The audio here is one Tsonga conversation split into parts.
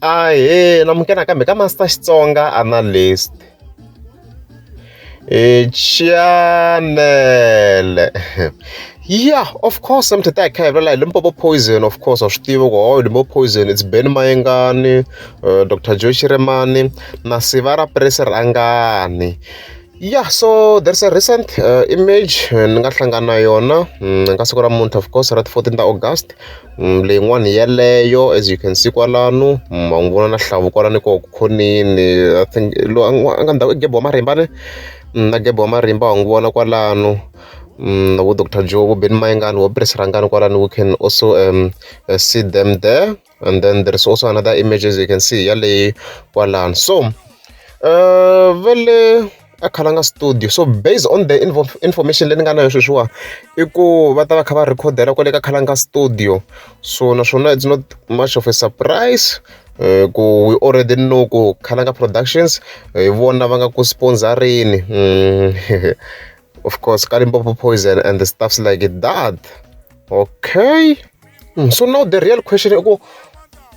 Ahee na muka nakambe ka Master Xitsonga Analyst. Chanele ya of course mi tata hi kha hi vula hi Limpopo Poison of course wa swi tiva ku hawu Limpopo Poison it's Ben Mayengani, Doctor Joe Shirimani na Siva ra Puresi Rhangani. Yeah, so there's a recent uh, image eh, ni nga hlangana na yona mm, ka siku ra munhu of course ra 14 ta August mm, leyin'wana yeleyo as you can see kwalano mm, ma n'wi vona na hlavu kwalani ko khonini i think lo a nga ndhawu i gebo wa marimba ne na gebo wa marimba wa n'wi vona kwalano um, vo dr joe vo ben mayengani vo pres rangani kwalani we can also um, uh, see them there and then there's also another images you can see yale kwalani so uh vele a khalanga studio so based on the info information leyi ni nga na yo sweswiwa i ku va ta va kha va rhekhodela kwale ka khalanga studio so naswona it's not much of a surprise eh, ku we already know ku khalanga productions hi eh, vona va nga ku sponsorini mm, of course kalimpopo poison and the stuffs like that Okay. Mm, so now the real question is,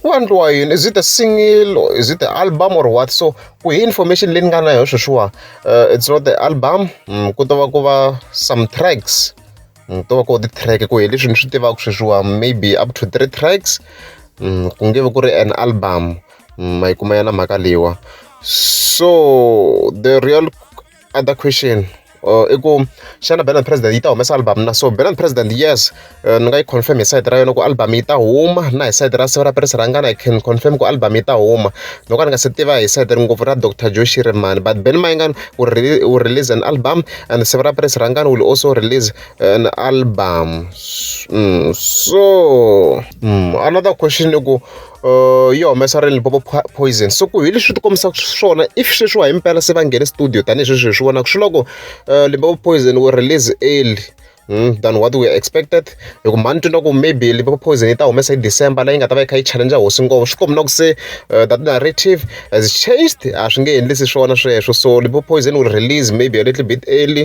ku endliwa yini is it a single or is it the album or what so ku hi information leyi ni nga na yo sweswiwa uh, it's not the album mm, ku to va ku va some tracks mm, to va ku ti track ku hi leswi ni swi tivaka sweswiwa maybe up to three tracks mm, ku nge vi ku ri an album mm, ma yi kuma ya na mhaka leyiwa so the real other question or i ku xana band president yi ta humesa album na so band president yes eh, ni nga yi confirm hi side ra yona ku album yi ta huma na hi side ra siva ra perisi rangana i can confirm ku album yi ta huma loko a ni nga se tiva hi side ngopfu ra dr joshi rimani but ben mayingani u release an album and siva ra perisi rangana will also release eh, an album mm, so mm, another question i ku yi humesa ra Limpopo Poison so ku hi leswi ti kombisaka swona if sweswiwa himpela se va nghene studio tanihi sweswi hi swi vonaka swi loko eh, Limpopo Poison wu release early Hmm, than what we expected hi ku mhani twina ku maybe liverpool poison yi ta humesa hi december leyi nga ta va yi kha yi challenge hosi ngopfu swi kombi na ku se uh, that narrative has changed a swi nge endlisi swona sweswo so liverpool poison will release maybe a little bit early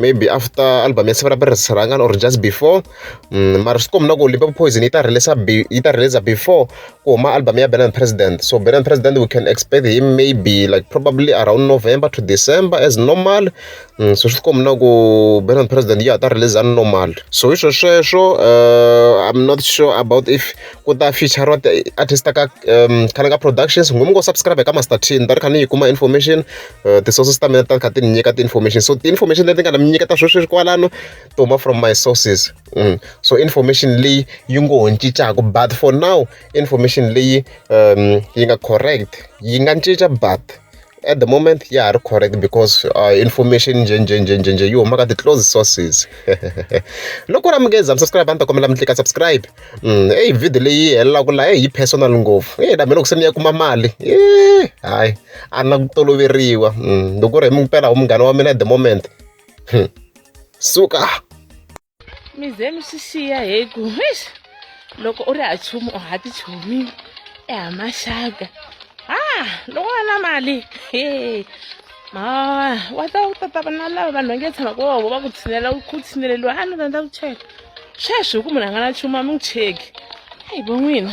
maybe after album ya siva ra pirisi rhangana or just before mm, mara swi kombi na ku limpopo poison yi ta releasa yi ta releasa before ku huma album ya benan president so benan president we can expect him maybe like probably around november to december as normal mm, so swi kombi na ku benan president ya ta releasa normal so hi swo sweswo uh, i'm not sure about if ku ta feature wa artist ka um, khana ka productions ngumi ngo subscribe ka master t ni ta ri kha ni yi kuma information uh, ti-sources ta mina ta kha ti ni nyika ti-information so ti-information leti nga na mi nyiketa sweswi kwalano to huma from my sources mm. so information leyi yi ngo ho cincaku but for now information leyi um, yi nga correct yi nga cinca but at the moment ya ha ri correct because uh, information njhenjhenjhenjhenje yi huma ka ti-close sources loko ra mukeza mi subscribe a ni ta kombela mi tlika subscribe mm, eyi video leyi helelaka laha eyi personal ngopfu e dami loko se ni ya kuma mali e hayi a na ku toloveriwa mm, loko ri hi mi pela wu munghana wa mina at the moment hmm. suka mi ze mi swi xiya hi ku loko u ri ha chumu u ha ti chumile e ha maxaka ha loko va na mali he ma wa ta u tata va na lava vanhu va nge tshama ku vovo va ku tshinela ku tshineleliwa a ni rhandza ku cheka sweswi hi ku munhu a nga na chuma mi n'wi cheki a hi vo n'wina